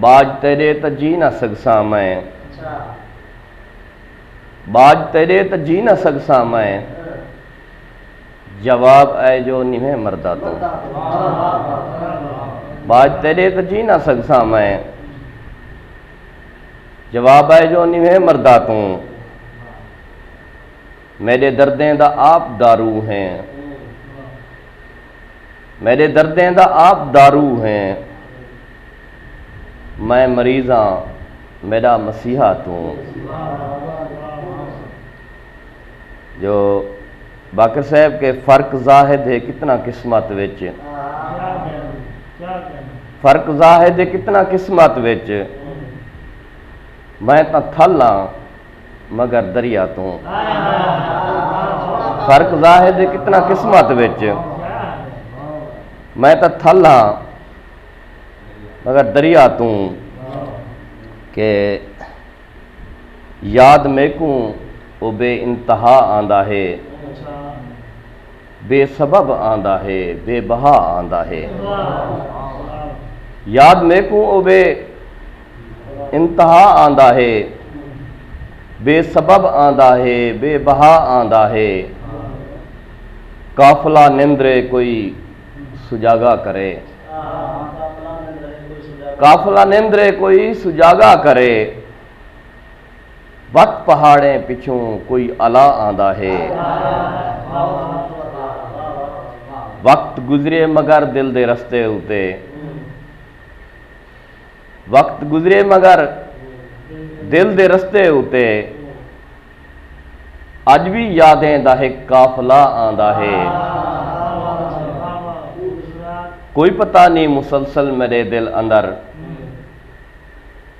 ٻاجھ تیݙے تاں جی نہ سڳساں میں ٻاجھ تیݙے تاں جی نہ سڳساں میں جواب اے جو نویں مردا توں ٻاجھ تیݙے تاں جی نہ سڳساں میں جواب اے جو نویں مردا توں میݙے دردیں دا آپ دارو ہیں میݙے دردیں دا آپ دارو ہیں۔ میں مریض ہاں میݙا مسیحا توں۔ جو باقر صاحب کے فرق زاہد ہے کتنا قسمت وچ فرق زاہد ہے کتنا قسمت وچ میں تاں تھل ہاں مگر دریا توں فرق ظاہر دے کتنا قسمت وچ میں تاں تھل ہاں مگر دریا توں کہ یاد میکوں او بے انتہا آندا ہے بے سبب آندا ہے بے بہا آندا ہے یاد میکوں او بے انتہا آندا ہے بے سبب آندا ہے بے بہا آندا ہے قافلہ نندرے کوئی سجاگا کرے قافلہ نندرے کوئی سجاگا کرے وت پہاڑیں پچھوں کوئی الا آندا ہے۔ وقت گزرے مگر دل دے رستے اتے۔ وقت گزرے مگر دل دے رستے اتے۔ اج وی یادیں دا ہک قافلہ آندا ہے۔ کوئی پتہ نی مسلسل میڈے دل اندر۔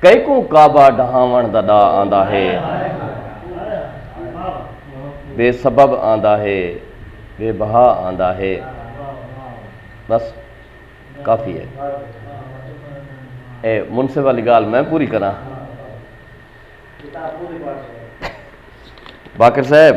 کیکوں کعبہ ڈھاونڑ دا ڈا آندا ہے۔ بے سبب آندا ہے۔ بے بہا آندا ہے۔ بس کافی ہے۔ اے منصف والی گال میں پوری کراں۔ باقر صاحب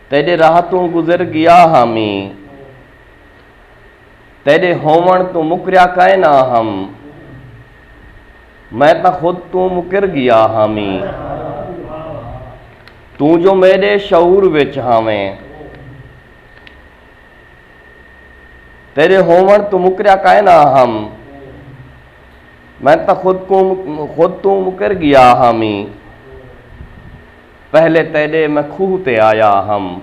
تیݙے راہ توں گزر ڳیا ہا میں تیݙے ہووݨ توں مکریا کائے نہ ہم میں تاں خود توں مکر ڳیا ہا میں توں جو میݙے شعور وچ ہاویں تیݙے ہووݨ توں مکریا کائے نہ ہم میں تاں خود توں مکر ڳیا ہا میں پہلے تیݙے میں کھوہ تے آیا ہم۔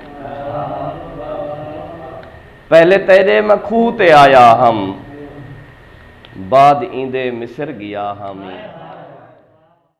پہلے تیݙے میں کھوہ تے آیا ہم۔ بعد ایندے مصر ڳیا ہاں میں۔